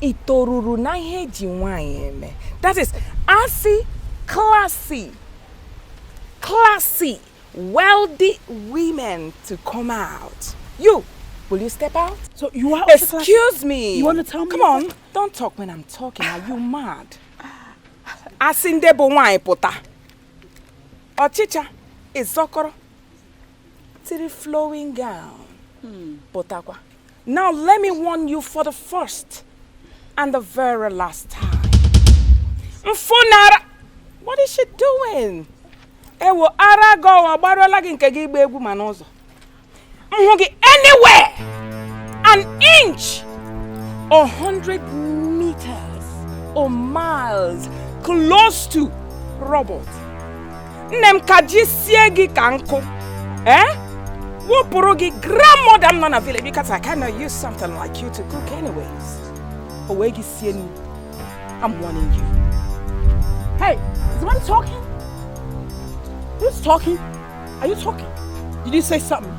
i toruru na ihe e ji nwaanyị eme that is a sị classy classy wealthy women to come out you Will you step out? So you are Excuse me. You want to tell me? Come on. Don't talk when I'm talking. Are you mad? A sị ndị bụ nwaanyị pụta. Ọchịcha ị zọkọrọ tiri flowing gown hmm. pụtakwa. Now let me warn you for the first and the very last time. Mfunara, what is she doing? Ewo ara gị ọwa gbarụọla gị nke gị ịgba egwu ma n'ụzọ. M hụ gị anywhere an inch a hundred meters or miles close to Robert. nne m ka ji sie gị ka nkụ ee eh? wụpụrụ gị grandmother m nọ na village because I cannot use something like you to cook anyways o wee gị sie nri I'm warning you hey is the one talking who's talking are you talking did you say something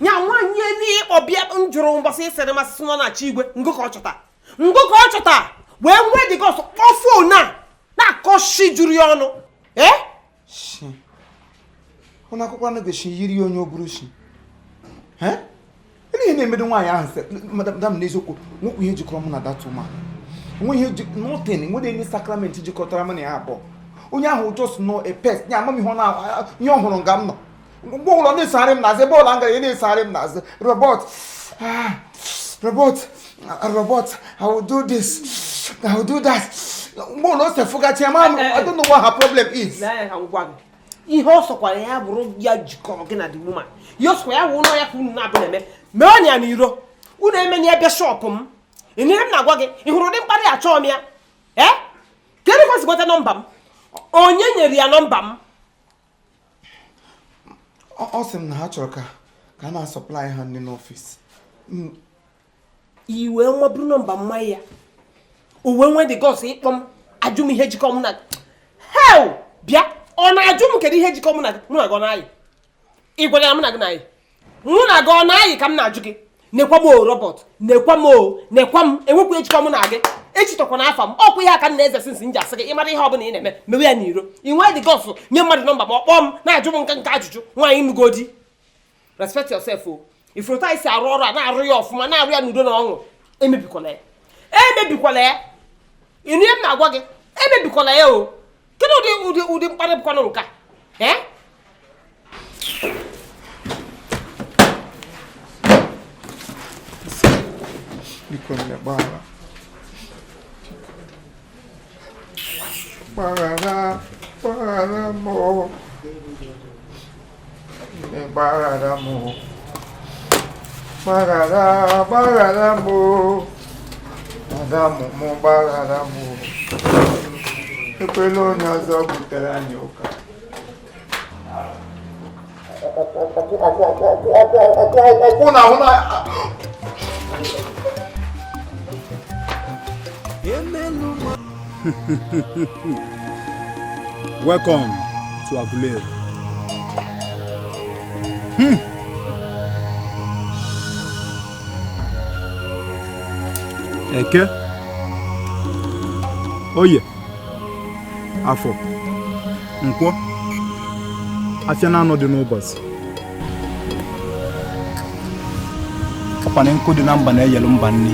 nya nwaanyị n'ịkpọ bịa m jụrụ mgbasa ịsịrị masị sị nọ na chi igwe ngụ ka ọ chọta ngụ ka ọ chọta wee nwee the guts kpọọ phone na-akọ shi juru ya ọnụ ee shi ụlọ akwụkwọ anụ gosi yiri ya onye oburu shi ee ihe na-emedo nwaanyị ahụ see madam n'eziokwu nwekwu ihe jikọrọ mụ na that woman nwe ihe nothing nwere any sacrament jikọtara mụ na ya abụọ onye ahụ wụ just nnọọ a pest ya ama m ihe ọ na ihe ọ hụrụ nga m nọ mgbe ọbụla ọ na-esogharị m n'azụ ebe ọbụla m gara ya na-esogharị m n'azụ Robert ah, Robert ah, Robert i will do this i will do that mgbe ụlọ ose fụgachi ya ma m i don't know what her problem is Lee anya ka m gwa gị. ihe ọ sọkwara ya bụrụ ya jikọrọ gị na the woman ya ọsọkwa ya wụ ụlọ ya ka unu na-abụ na-eme meenụ ya n'iro unu emene ya ebe shop m ị nụrụ ihe m na-agwa gị ị hụrụ ụdị mkparị achọọ m ya ee kedu ka o si nweta nọmba m onye nyere ya nọmba m ọ sị m na ha chọrọ ka ka a na-asupply ha nri n'office i wee buru nọmba m nye ya o wee nwee the guts ịkpọ m ajụ m ihe jikọ m na gị he bịa ọ na-ajụ m kedu ihe jikọ m na mụ na gị na-ayị ị gwara ya mụ na gị na-ayị mụ na gị ọ na-ayị ka m na-ajụ gị nekwa m o Robert nekwa m o nekwa m enwekwa ihe jikọ m na gị echitọkwana afa m ọ kwa ihe a ka m na-eze since m ji asị gị ị mara ihe ọbụla ị na-eme mewe ya n'iro ị nwee the guts nye mmadụ nọmba m ọ kpọọ m na-ajụ m nka nka ajụjụ nwaanyị nụgo di respect yourself o ị fụrụ etu a i si arụ ọrụ a na-arụ ya ọfụma na-arụ ya n'udo na ọṅụ emebikwala ya emebikwala ya ị nụ ihe m na-agwa gị emebikwala ya o kedu ụdị ụdị ụdị mkparị bụkwanụ nke a ee biko nne gbaghara gbaghara gbaghara m gbaghara m gbaghara gbaghara m ada m mụ gbaghara m ekwela onye ọzọ butere anyị ụka okwu na ahụ na Welcome to Aguleri. Hmm. Eke. Oye. Afọ. Nkwọ. Afịa naanọ dị n'ụbọsị. ọkwa na nkụ dị na mba na-eyelu mba nni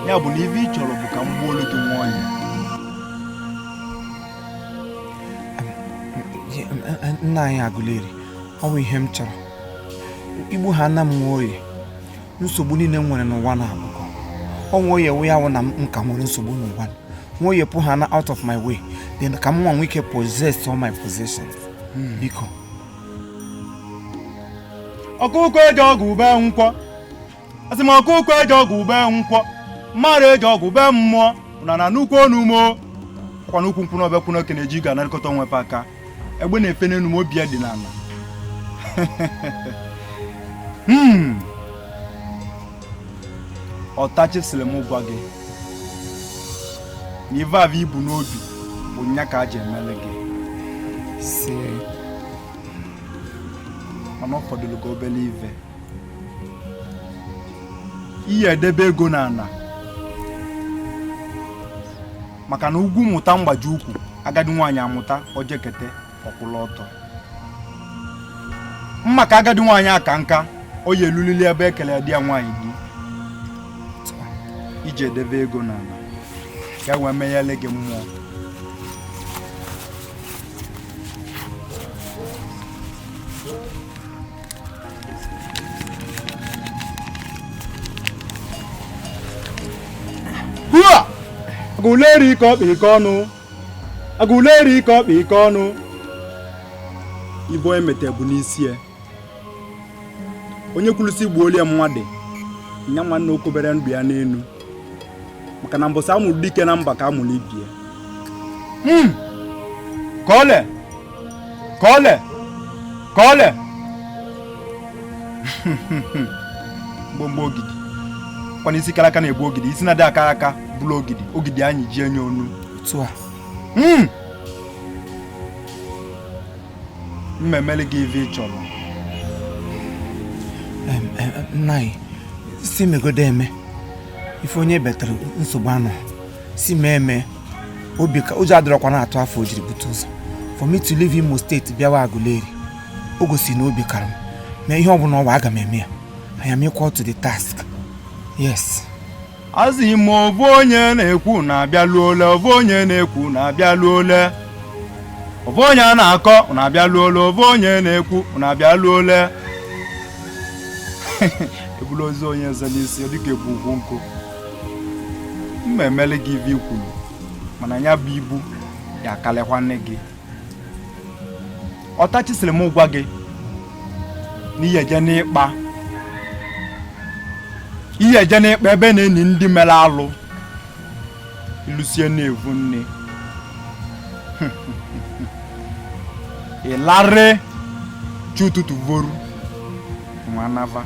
ya bụ na ive ị chọrọ bụ ka m gbuolu gị nwoye nna anyị agụleri ọ bụ ihe m chọrọ igbu ha na m nwoye nsogbu niine m nwere n'ụwa na abụkọ ọ nwoye wụ ya wụ na m ka nwere nsogbu n'ụwa nwoye pụ ha na out of my way then ka m wee nwee ike possess all my possession hmm. biko ọkụkụ eje ọgụ be nkwọ asị m ọkụkụ eje ọgụ be nkwọ mmadụ eje ọgụ be mmụọ na na nnukwu onumo kwa n'ukwu nkwụ n'ọbịa kwụ n'oke na-eji ga anarịkọta onwe fa aka egbe na-efe n'enu ma obi ya dị n'ana hmm. ọtachi sịlị m gwa gị na ive avụ i bu n'obi bụ nya ka a ji emele gị mana ọ fọdụlụ gị obele ive i ye-edebe ego n'ana maka na ugwu mụta mgbaji ukwu agadi nwaanyị amụta o jekete ọ kwụla ọtọ maka agadi nwaanyị aka nka o ye-elulili ebe e kele di ya nwaanyị di iji edebe ego n'ana ka e wee menyele gị mmụọ agụleri ike ọkpa ike ọnụ agụleri ike ọkpa ike ọnụ ive onye meta bu n'isi ya onye kwulu sị gbuoli ya mmadụ nya mara na o kobere ndụ ya n'enu maka na mbọsị amụrụ dike na mba ka amụrụ ibie hmm. ka ole ka ole ka ole mgbomgbo ogidi kwana isi kara aka na-ebu ogidi isi na-adị akara aka buru ogidi ogidi anyị ji enye ọnụ hmm. m ma-emeli gị ife ị chọrọ nna anyị si megodo eme ife onye betara nsogbu anọ si mee eme obi ka ụjọ adịrọkwa na-atụ afọ o jiri bute ụzọ for me to leave Imo State bịawa Aguleri o gosi na obi kara m ihe ọbụla ọ wụ aga m eme ya I am equal to the task yes asị m ovu onye na-eku unu abịa ole ovu onye na-eku unu abịa ole ovu onye a na-akpọ unu abịa ole ovu onye na-eku unu abịa ole ebulu ozu onye ọzọ n'isi dịka ebu ukwu nkụ m emele gị ive i kwulu mana ya bụ ibu ya akarịkwana gị ọtachi sịrị m gwa gị na ị ya-eje n'ịkpa ị ya-eje n'ịkpa ebe a na-eni ndị mere alụ i lusie na-evu nne ị larị chi ụtụtụ voru nwa nava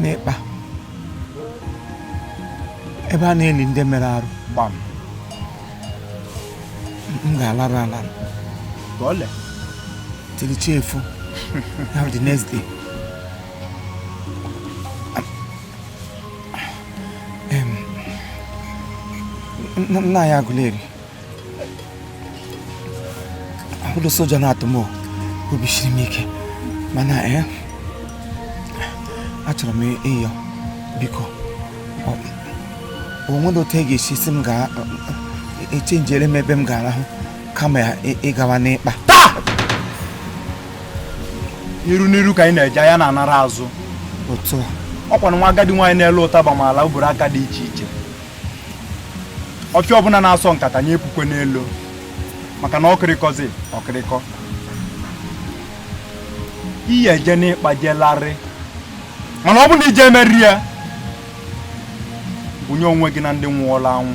n'ịkpa ebe a na-eli ndị mere arụ gbam m ga-alarụ alarụ until chi efo na the next day nna anyị Aguleri ọ wụrọ sị ụjọ na-atụ m obi siri m ike mana ee eh, achọrọ m ịyọ biko o nwere otu a ga-esi si echenjere m ebe m ga-arahụ kama ya ịgawa n'ịkpa taa n'iru n'iru ka anyị na-eje anya na-anara azụ otu ọkwa na nwa agadi nwaanyị na-ele ụtaba maala mkpụrụ aka dị iche iche ọfịa ọbụla na-asọ nkata nya epukwana elo maka na ọkịrịkọzi ọkịrịkọ ị ya-eje n'ịkpa jelarị mana ọ bụ na ije emeri ya bunye onwe gị na ndị nwụọla anwụ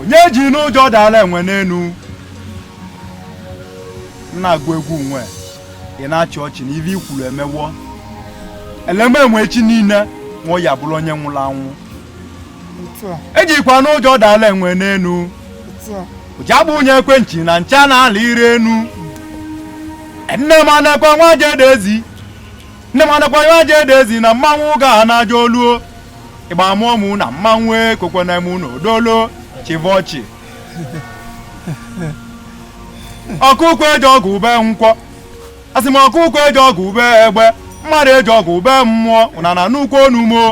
onye ejina ụjọ dara enwe n'enu na-agụ egwu nwe ị na-achị ọchị na ive i kwuru emewo ele mee enwe echi niile nwa ya bụrụ onye nwụrụ anwụ ejikwana ụjọ dala enwe n'enu ụja bụ onye ekwentị na ncha na-ala ire enu nne m anakwa nwa jedezi nne m anakwa nwa jedezi na mmanwụ ga na-aja oluo ịgba mmụọ mụ na mmanwụ ekwekwana mụ na odolo chịva ọchị ọkụkọ eje ọgụ be nkwọ asị m ọkụkọ eje ọgụ be egbe mmadụ eje ọgụ be mmụọ ụnana nnukwu onumo